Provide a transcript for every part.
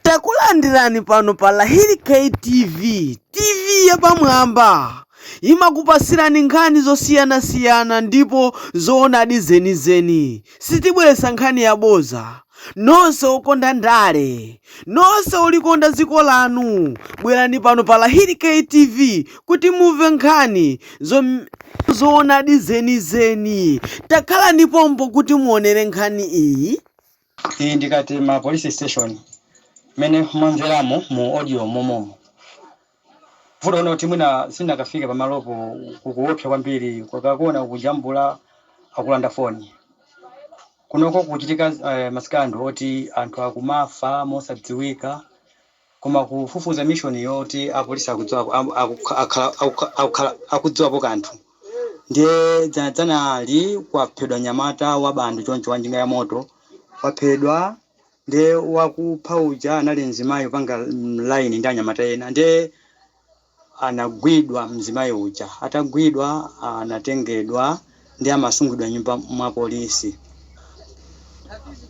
Takulandirani pano pa Lahiri K TV, TV yapamwamba. Imakupatsirani nkhani zosiyanasiyana ndipo zoonadi zenizeni. Sitibweretsa nkhani yabodza. Nonse okonda ndale, nonse olikonda dziko lanu, bwerani pano pa Lahiri K TV kuti mumve nkhani zoonadi zenizeni. Takhalani pompo kuti muonere nkhani iyi. Iyi ndi Katema police station mmene mwamveramo mu audio momomu. Vuto ndi loti mwina sindinakafika pamalopo kukuopsa kwambiri akakuona ukujambula akulanda foni. Kunoko kukuchitika ma scandal oti anthu akumafa mosadziwika Koma kufufuza mission yoti apolisi akudziwapo akukhala akudziwapo kanthu ndiye dzana dzanali kwaphedwa nyamata wa bando choncho wa njinga ya moto waphedwa ndiye wakupha uja anali mzimayi kupanga line ndi anyamata ena ndiye anagwidwa mzimayi uja atagwidwa anatengedwa ndiye amasungidwa nyumba mwa apolisi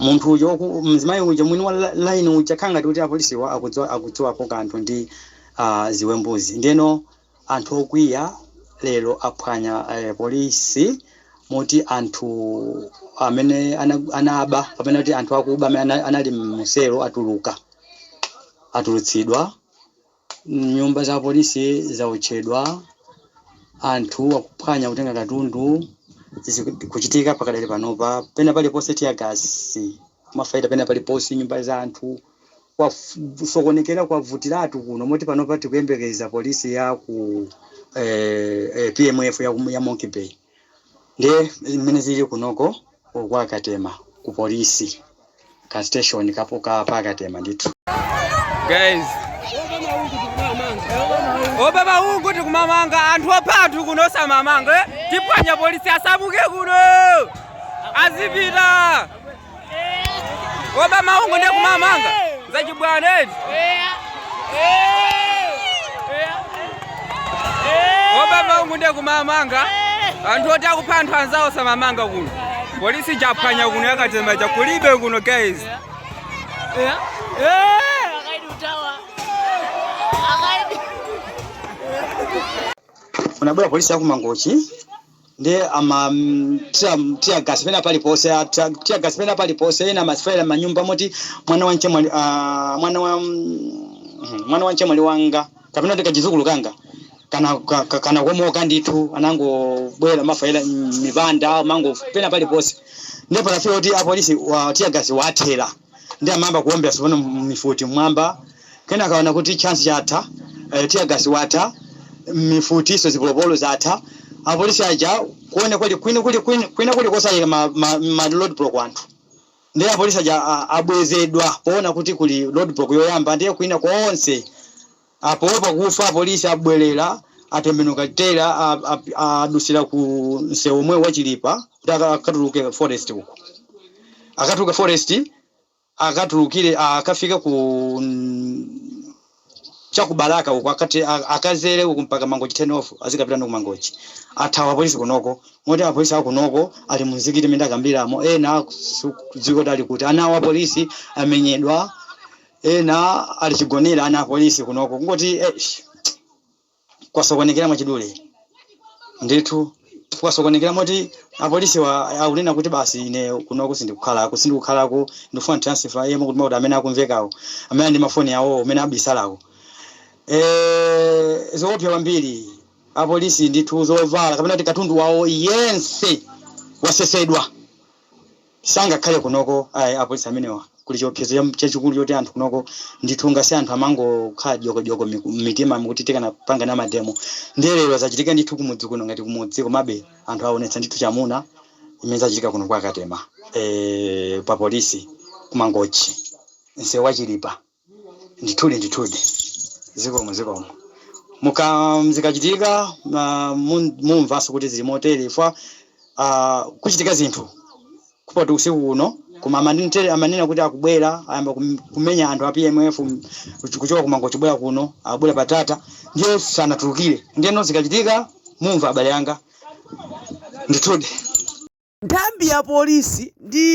munthu uja oku mzimayi uja mwini wa line uja kukhala ngati kuti apolisiwa akudziwa akudziwapo kanthu ndi ziwembuzi ndeno anthu okwiya lero aphwanya eh, polisi moti anthu amene ana, anaba kapena kuti anthu akuba amene ana- anali mu selo atuluka atulutsidwa Nyumba za apolisi zaotchedwa, anthu akuphwanya kutenga katundu, zikuchitika pakadali panopa pena paliponse tear gas, amafayira pena paliponse, nyumba za anthu, kwasokonekera kwavutiratu kuno moti panopa tikuyembekeza police ya ku PMF ya Monkey Bay. Ndiye mmene zilili kunoko uku kwa Katema ku polisi ka station kapo ka pa Katema ndithu. Guys. Oba maungu ndi kumamanga anthu opha anthu kuno osamamanga eh? tiphwanya polisi asamuke kuno azipita oba maungu ndi kumamanga zachibwana eti oba maungu ndi kumamanga anthu oti akupha anthu anzawo osamamanga kuno polisi taphwanya kuno ya Katema chakulibe kuno guys kunabwera polisi ya ku Mangochi ndiye ma tiagasi pena paliponse a- tia- tiagasi pena paliponse wina amafayira m'manyumba moti mwana wa mchemwali ah, mwana wa mm, mwana wa mchemwali wanga kapena kuti kachizukulu kanga kana ka- ka- kanakomoka ndithu anangobwera kumafayira m'mipanda, mango pena paliponse ndipo panafika kuti apolisiwa tiagasi wawathera Ndiye amayamba kuwombera tsopano mifuti mmwamba, kenaka aona kuti chance yatha, eh, tear gas watha, mifutinso zipolopolo zatha. Apolisi aja kuona kuli kwina kuli kosayika ma, ma, ma roadblock anthu. Ndiye apolisi aja a- abwezedwa poona kuti kuli roadblock yoyamba ndiye kwina konse Apo pakufa apolisi abwelera atembenuka tere adusira ku nsewu omwewo wa chilipa kuti akatuluke forest uko akatuluke forest akatulukire akafike ku cha ku balaka uko akati akazere uko mpaka mangochi turn off azikapitano ku mangochi athawa apolisi kunoko moti apolisi akunoko ali mu nzikiti mmene ndakambiramo ena sikudziwika kuti ali kuti ana awo apolisi amenyedwa Ena ali chigonere ana apolisi kunoko kungoti eish kwasokonekera mwachidule ndithu kwasokonekera moti apolisiwa akunena kuti basi ine kunoko sindikukhalako sindikukhalako ndifuna transfer yemwe kuti kuti amene akumvekawo amene ndi mafoni awo amene abisalawo e zoopsa kwambiri apolisi ndithu zovala kapena kuti katundu wawo yense wasesedwa. Sangakhale kunoko ai apolisi amenewa kuli chiopsezo cha chachikulu choti anthu kunoko ndithu ngati anthu amangokhala dyoko dyoko miku mmitima kuti tikanapanga nawo mademo ndiye lero zachitika ndithu kumudzi kuno ngati kumudzi komabe anthu awonetsa ndithu chamuna zimene zachitika kuno kwa katema ee pa polisi ku mangochi nseu wa chilipa. Ndithudi, ndithudi. Zikomo, zikomo. Muka, zikachitika, ma, mun, mumvanso kuti zili motere chifukwa, a, kuchitika zinthu. Kupoti usiku uno, koma aman, tele amanena kuti akubwera, ayamba kum, kumenya anthu a PMF, kuch, kuchoka ku Mangochi kubwera kuno, akubwera pa Tata, ndiye sanatulukire. Ndiyeno zikachitika, mumva abale anga. Ndithudi. Nthambi ya polisi ndi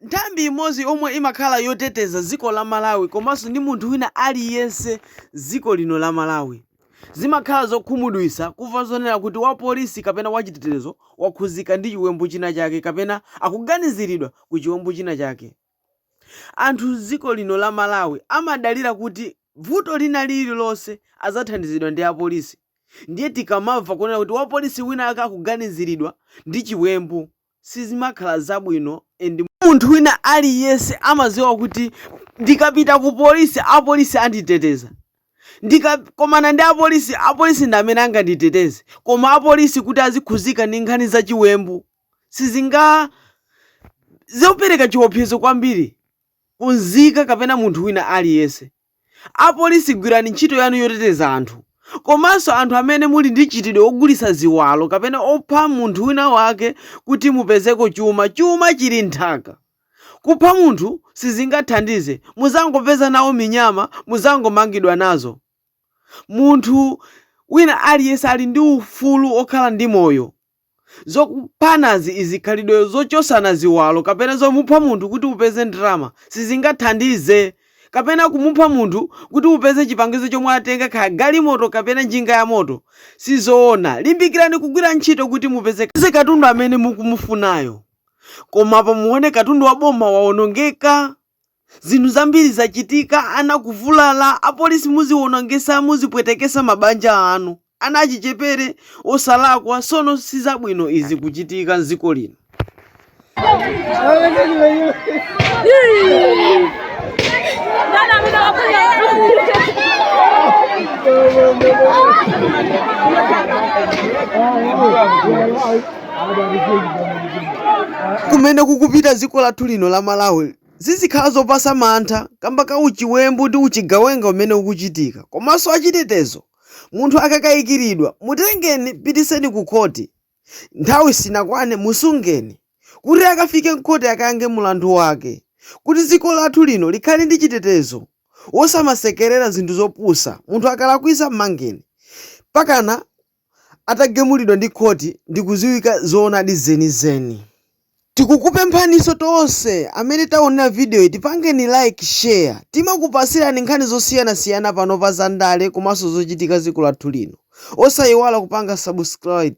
nthambi imodzi yomwe imakhala yoteteza dziko la Malawi komanso ndi munthu wina aliyense dziko lino la Malawi. Zimakhala zokhumudwitsa kumva zonena kuti wa polisi kapena wa chitetezo wakhudzika ndi chiwembu china chake kapena akuganiziridwa ku chiwembu china chake. Anthu mziko lino la Malawi amadalira kuti vuto lina lililonse adzathandizidwa ndi apolisi ndiye tikamamva kunena kuti wapolisi wina wake akuganiziridwa ndi chiwembu sizimakhala zabwino and munthu wina aliyense amaziwa kuti ndikapita ku polisi apolisi anditeteza, ndikakomana ndi apolisi apolisi ndi amene anganditeteze koma apolisi kuti azikhuzika ndi nkhani za chiwembu sizinga zopereka chiopsezo kwambiri ku nzika kapena munthu wina aliyense. Apolisi gwirani ntchito yanu yoteteza anthu komanso anthu amene muli ndi mchitidwe wogulitsa ziwalo kapena opha munthu wina wake kuti mupezeko chuma. Chuma chili m'nthaka. Kupha munthu sizingathandize, muzangopeza nawo minyama muzangomangidwa nazo. Munthu wina aliyense ali ndi ufulu okhala ndi moyo. Zokuphanazi izi, khalidwe zochosana ziwalo kapena zomupha munthu kuti upeze ndalama sizingathandize. Kapena kumupha munthu kuti upeze chipangizo chomwe atenga kaya galimoto kapena njinga ya moto sizoona. Limbikirani kugwira ntchito kuti mupeze katundu amene mukumufunayo koma apa muone katundu wa boma waonongeka. Zinthu zambiri zachitika, ana kuvulala, apolisi muziwonongesa, muzipwetekesa mabanja anu, ana achichepere osalakwa sono sizabwino izi kuchitika m'dziko lino. kumene kukupita dziko lathu lino la malawi zizikhala zopasa mantha kamba ka uchiwembu ndi uchigawenga umene ukuchitika komanso achitetezo munthu akakayikiridwa mutengeni pitiseni ku khoti nthawi sinakwane musungeni kuti akafike mkhoti akayankhe mulandu wake kuti dziko lathu lino likhale ndi chitetezo wosamasekerera zinthu zopusa munthu akalakwisa mmangeni pakana atagamulidwa ndi khoti ndikuziwika zoonadi zenizeni. Tikukupemphaniso tonse amene taonera videoyi tipangeni like, share timakupasirani nkhani zosiyanasiyana pano pa za ndale komanso zochitika m'dziko lathu lino osayiwala kupanga subscribe.